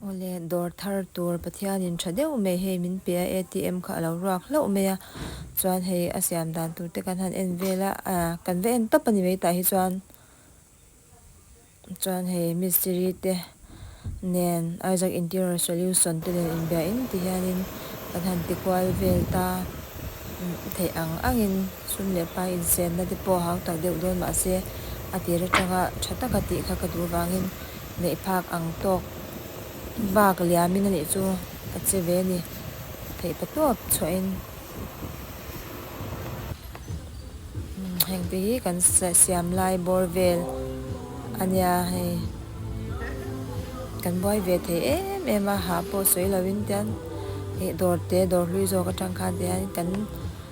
Awle, dawr thar tur Pathianin tha deuh mai hei min pe a, ATM kha a lo ruak hlauh mai a, chuan hei a siam dan tur te kan han en vel a, a kan va en tawp a ni mai tah hi chuan, chuan hei Mistiri te nen Isaac Interior Solution te nen inbia in ti hian in kan han ti kual vel ta theih ang ang in. Chhum leh pa insenna te pawh hau tak deuh dawn mahse, a tir atanga tha taka tih kha ka duh vangin neih phak ang tawk vak liamin a nih chu ka che ve a ni. Theih pa tawp chhuahin hengte hi kan siam lai bawr vel a nia hei, kan buai ve thei em em a, hah pawh sawi loin tian dawrte dawr hlui zawk atang khan tihian kan.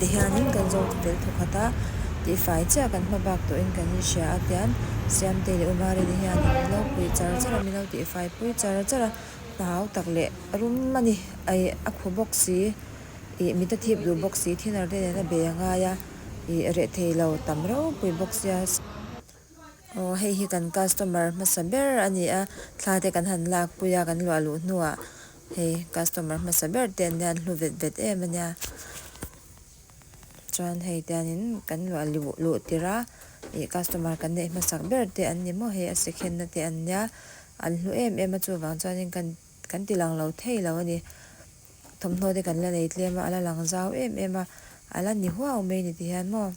tihianin kan zawng ti tel thawk khat a, tihfai chiah kan hma bak tawhin kan inhria a tian Siamte leh Umarin hian an lo pui char char a, min lo tihfai pui char char a, hna hau tak leh rum a ni, ih a khu bawk si, ih mit a thip duh bawk si, thinarte nen a bei a ngai a, ih reh thei lo tam reuh pui bawk sia. Aw hei hi kan customer hmasa ber a ni a, thla te kan han lak pui a kan luah luh hnu ah hei customer hmasa ber te an nia an hlu vet vet em a nia. Chuan hei te hian in kan luah luh luh tir a ih customer kan neih hmasak ber te an ni maw hei a si khen na te an nia an hlu em em a chuvang chuan in kan kan ti lang lo thei lo a ni. Thawmhnaw te kan la nei tlem a a la lang zau em em a a la ni huau mai ni ti hian maw.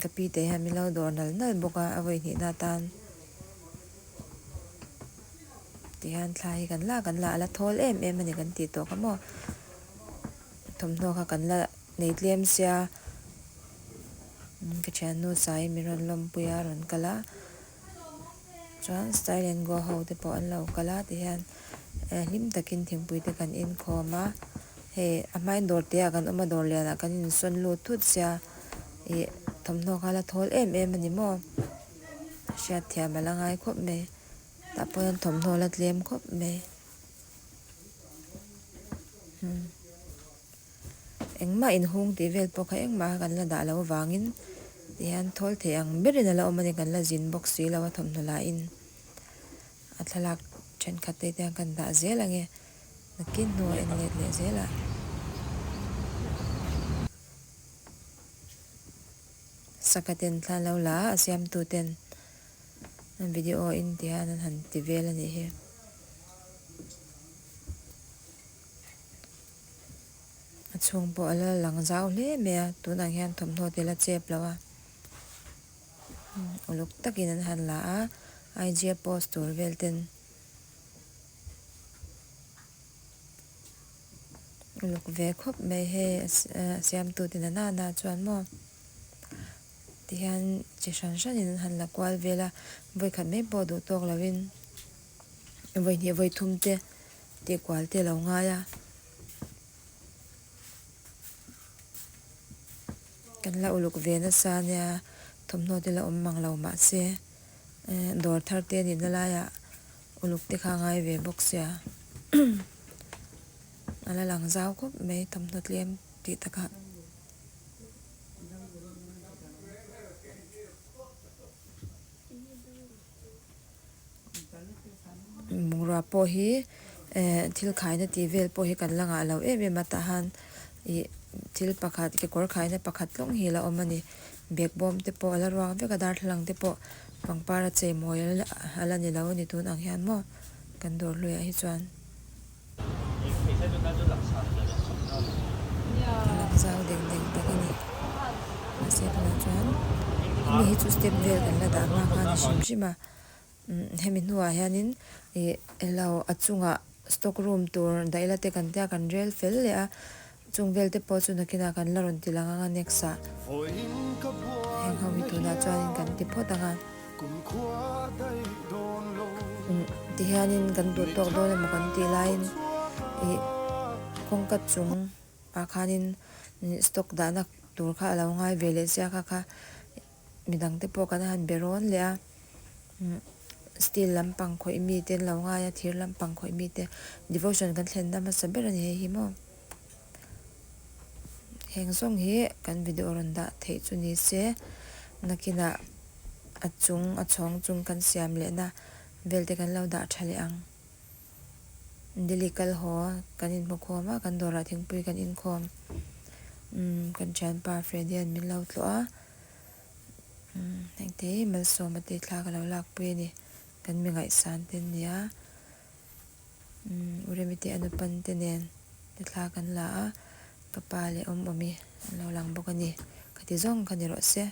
Ka pi te hian min lo dawr nal nal bawk a, a vawi hnihna atan tihian thla hi kan la kan la a la thawl em em a ni kan tih tawh ka maw. Thawmhnaw kha kan la nei tlem sia, ka thiannu Sai in min rawn lawmpui a, rawn kal a. Chuan style and go ho te pawh an lo kal a ti hian hlim takin thingpui te kan inkhawm a, hei a hmai dawr te ah kan awm a dawr lian ah kan insawn lut thut sia, ih thawmhnaw kha la thawl em em a ni maw, hriatthiam a la ngai khawp mai, tah pawh hian thawmhnaw la tlem khawp mai. Engmah inhung tih vel pawh kha engmah kha kan la dah loh vangin tihian thawl thei ang berin a la awm a ni kan la zin bawk si lo a thawmhnaw lahin a thlalak thenkhat te hian kan dah zel ang e nakin hnu a en let leh zel a saka ten thla an lo la a a siamtu ten video in tihian an han ti vel a nih hi. A chhung pawh a la lang zau hle mai a, tunah hian thawmhnaw te la chep lo a, uluk takin an han la a, IGF post tur vel ten uluk ve khawp mai hei a siamtu te nana na chuan maw tihian chi hran hran in an han la kual vel a, vawikhat mai pawh duh tawk lo in. Vaihnih vaithum te tih kual te alo ngai a. Kan la uluk ve nasa ania thawmhnaw te la awm mang lo mahse dawr thar te nih na lai ah uluk te kha a ngai ve bawk sia. A la lang zau khawp mai thawmhnaw tlem tih taka. Bungrua pawh hi eh thil khaina tih vel pawh hi kan la ngah lo em em a tah han ih thil pakhat kekawr khaina pakhat tlawng hi a la awm a ni bag bawm te pawh a la ruak vek a darthlalang te pawh pangpar a cheimawi a la ni lo a ni tûn ang hian maw kan dawr hluaiah hi chuan. Zau deng deng tak a ni a sir lamah chuan hemi hi chu step vel kan la dah nghak a ni hrim hrim a hemi hnua hian in ih elo a chungah stock room tur daih la te kan tia kan rel fel leh a. Chung vel te pawh chu nakinah kan la rawn ti lang ang a next ah heng ho hi tunah chuanin kan ti phawt ang a. Kum tihianin kan duh tawk dawn emaw kan tih laiin ih kawngka chung ah khanin stock dahna tur kha a lo ngai ve leh sia kha kha. Mi dangte pawh kan han be rawn leh a, steel lampang khawih mite an lo ngai a, thir lampang khawih mite, devotion kan thlenna hmasa ber a ni hei hi maw. Heng zawng hi kan video rawn dah theih chu ni se, nakinah a chung a chhawng chung kan siam lehna vel te kan lo dah tha leh ang. Delhi kal haw kan in hmukhawm a, kan dawrah thingpui kan inkhawm. Umm kan thianpa Freddy an min lo tlawh a, umm hengte hi Malsawma te thla ka lo lakpui a ni, kan mi ngaihsan te an ni a, umm u Remi te Anupan te nen te thla kan la a, ka pa leh awm awm hi an lo lang bawk a ni, ka ti zawng kha ni rawh se.